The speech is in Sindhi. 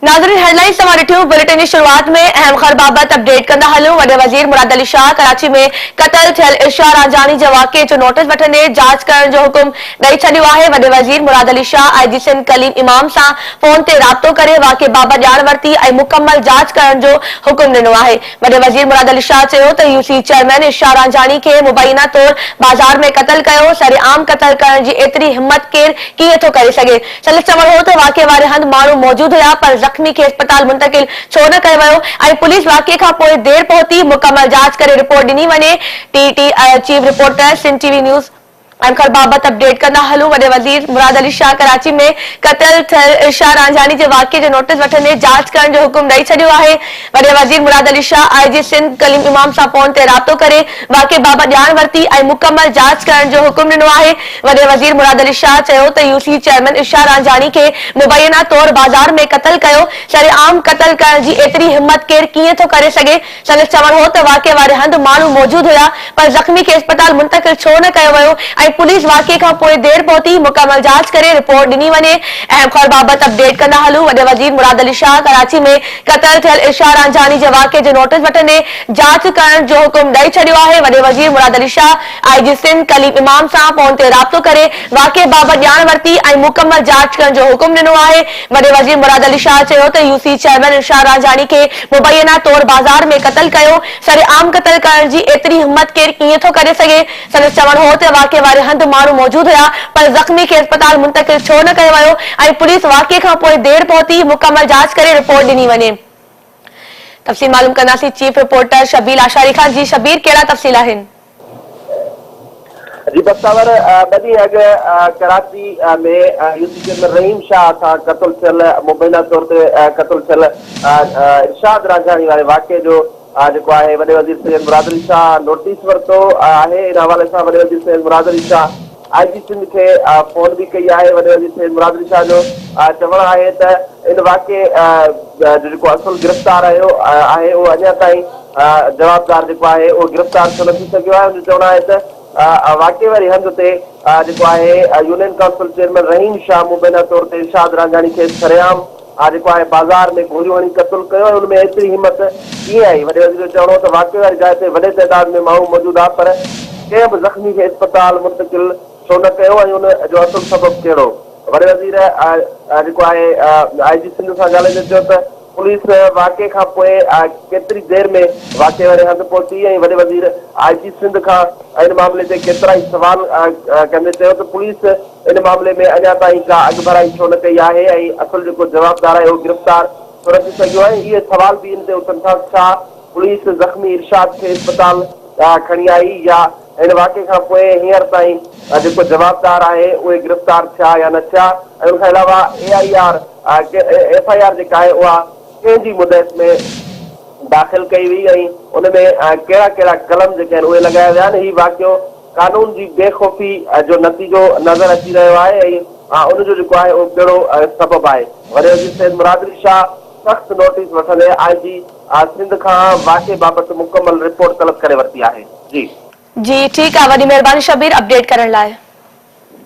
ناظرين هيڊلائنز توهان ڏٺيون، بليٽن جي شروعات ۾ اهم خر بابت اپڊيٽ ڪندا هليون، وڏي وزير مراد علي شاهه ڪراچي ۾ قتل ٿيل ارشا رانجهاڻي جي واقعي جو نوٽيس وٺندي جاچ ڪرڻ جو حڪم ڏئي ڇڏيو آهي، وڏي وزير مراد علي شاهه آء جي سنڌ ڪليم امام سان فون تي رابطو ڪري واقعي بابت ڄاڻ ورتي ۽ مڪمل جاچ ڪرڻ جو حڪم ڏنو آهي، وڏي وزير مراد علي شاهه چيو ته يو سي چيئرمين ارشا رانجهاڻي کي مبينا طور بازار ۾ قتل ڪيو، سرعام قتل ڪرڻ جي ايتري همت ڪير ڪيئن ٿو ڪري سگهي. سندس چوڻ هو ته واقعي واري هنڌ ماڻهو موجود هيا پر زخمي کي اسپتال منتقل ڇو نه ڪيو ويو ۽ پوليس واقعي کان پوء دير پهتي، مڪمل جاچ ڪري رپورٽ ڏني وڃي، T T I chief reporter Sindh T V news. Anchor بابت اپڊيٽ ڪندا هلون وڏي وزير مراد علي شاهه ڪراچي ۾ قتل ٿيل ارشاد رانجهاني جي واقعي جو نوٽيس وٺندي جاچ ڪرڻ جو حڪم ڏئي ڇڏيو آهي وڏي وزير مراد علي شاهه آء جي سنڌ ڪليم امام سان فون تي رابطو ڪري واقعي بابت ڄاڻ ورتي ۽ مڪمل جاچ ڪرڻ جو حڪم ڏنو آهي. وڏي وزير مراد علي شاهه چيو ته U C chairman Irshad Ranjhani کي مبينا طور بازار ۾ قتل ڪيو، سرعام قتل ڪرڻ جي ايتري همت ڪير ڪيئن ٿو ڪري سگهي، سندس چوڻ هو ته واقعي واري هنڌ ماڻهو موجود هيا پر زخمي کي اسپتال منتقل ڇو نه ڪيو ويو ۽ پوليس واقعي کان پوء دير پهتي، مڪمل جاچ ڪري رپورٽ ڏني وڃي، اهم خبر بابت اپ ڊيٽ ڪندا هلون، وڏي وزير مراد علي شاهه ڪراچي ۾ قتل ٿيل ارشاد رانجهاني جي واقعي جو نوٽيس وٺندي جاچ ڪرڻ جو حڪم ڏئي ڇڏيو آهي، وڏي وزير مراد علي شاهه آء جي سنڌ ڪليم امام سان فون تي رابطو ڪري واقعي بابت ڄاڻ ورتي ۽ مڪمل جاچ ڪرڻ جو حڪم ڏنو آهي، وڏي وزير مراد علي شاهه چيو ته U C chairman Irshad Ranjhani کي مبينا طور بازار ۾ قتل ڪيو، سرعام قتل ڪرڻ جي ايتري همت ڪير ڪيئن ٿو ڪري سگهي، سندس چوڻ هو ته واقعي واري هنڌ ماڻهو موجود هيا پر زخمي کي اسپتال منتقل ڇو نه ڪيو ويو ۽ پوليس واقعي کان پوء دير پهتي، مڪمل جاچ ڪري رپورٽ ڏني وڃي. تفصيل معلوم ڪنداسين چيف رپورٽر شبيل آشاري کان جي شبير ڪهڙا تفصيل آهن. جي بختاور ٻه ڏينهن اڳ ڪراچي ۾ يوسف چيمبر رحيم شاهه سان قتل ٿيل مبينا طور تي قتل ٿيل ارشاد راجاڻي واري واقعي جو آء جيڪو آهي وڏي وزير سيد مراد علي شاهه نوٽيس ورتو آهي ان حوالي سان وڏي وزير سيد مراد علي شاهه آء جي سنڌ کي فون به ڪئي آهي وڏي وزير سيد مراد علي شاهه جو چوڻ آهي ته ان واقعي جو جيڪو اصل گرفتار آهيو آهي اهو اڃا تائين جوابدار جيڪو آهي اهو گرفتار ڇو نه ٿي سگهيو آهي ان جو چوڻ آهي ته واقعي واري هنڌ تي جيڪو آهي union council chairman Rahim Shah مبينا طور تي ارشاد رانجهاڻي کيس سرعام اھا جيڪو آھي بازار ۾ گوليون ھڻي قتل ڪيو ۽ ان ۾ ايتري ھمت ڪيئن آئي؟ وڏي وزير جو چوڻ ھو ته واقعي واري جاء تي وڏي تعداد ۾ ماڻھو موجود ھئا پر ڪنھن به زخمي کي اسپتال منتقل ڇو نه ڪيو ۽ ان جو اصل سبب ڪھڙو؟ وڏي وزير اھا جيڪو آھي آئي جي سنڌ سان ڳالھائيندي چيو ته پوليس واقعي کان پوء ڪيتري دير ۾ واقعي واري ھنڌ پهتي ۽ وڏي وزير آئي جي سنڌ کان ان معاملي تي ڪيترائي سوال ڪندي چيو ته پوليس ان معاملي ۾ اڃا تائين ڪا اڳڀرائي ڇو نه ڪئي آهي ۽ اصل جيڪو جوابدار آهي اهو گرفتار ڇو نه ٿي سگهيو آهي اهي سوال به ان تي اٿن ٿا ته ڇا پوليس زخمي ارشاد کي اسپتال ڏانهن کڻي آئي يا هن واقعي کان پوء هينئر تائين جيڪو جوابدار آهي اهي گرفتار ٿيا يا نه ٿيا ۽ ان کان علاوه A I R F I R جيڪا آهي اها ڪنهن جي مدعيت ۾ داخل ڪئي وئي ۽ ان ۾ ڪهڙا ڪهڙا قلم جيڪي آهن اهي لڳايا ويا آهن هي واقعو قانون جي بي خوفي جو نتيجو نظر اچي رهيو آهي ۽ ان جو جيڪو آهي اهو ڪهڙو سبب آهي. وري وزير سيد مراد علي شاهه سخت نوٽيس وٺندي آء جي سنڌ کان واقعي بابت مڪمل رپورٽ طلب ڪري ورتي آهي. جي. جي ٺيڪ آ وڏي مھرباني شبير اپڊيٽ ڪرڻ لاء.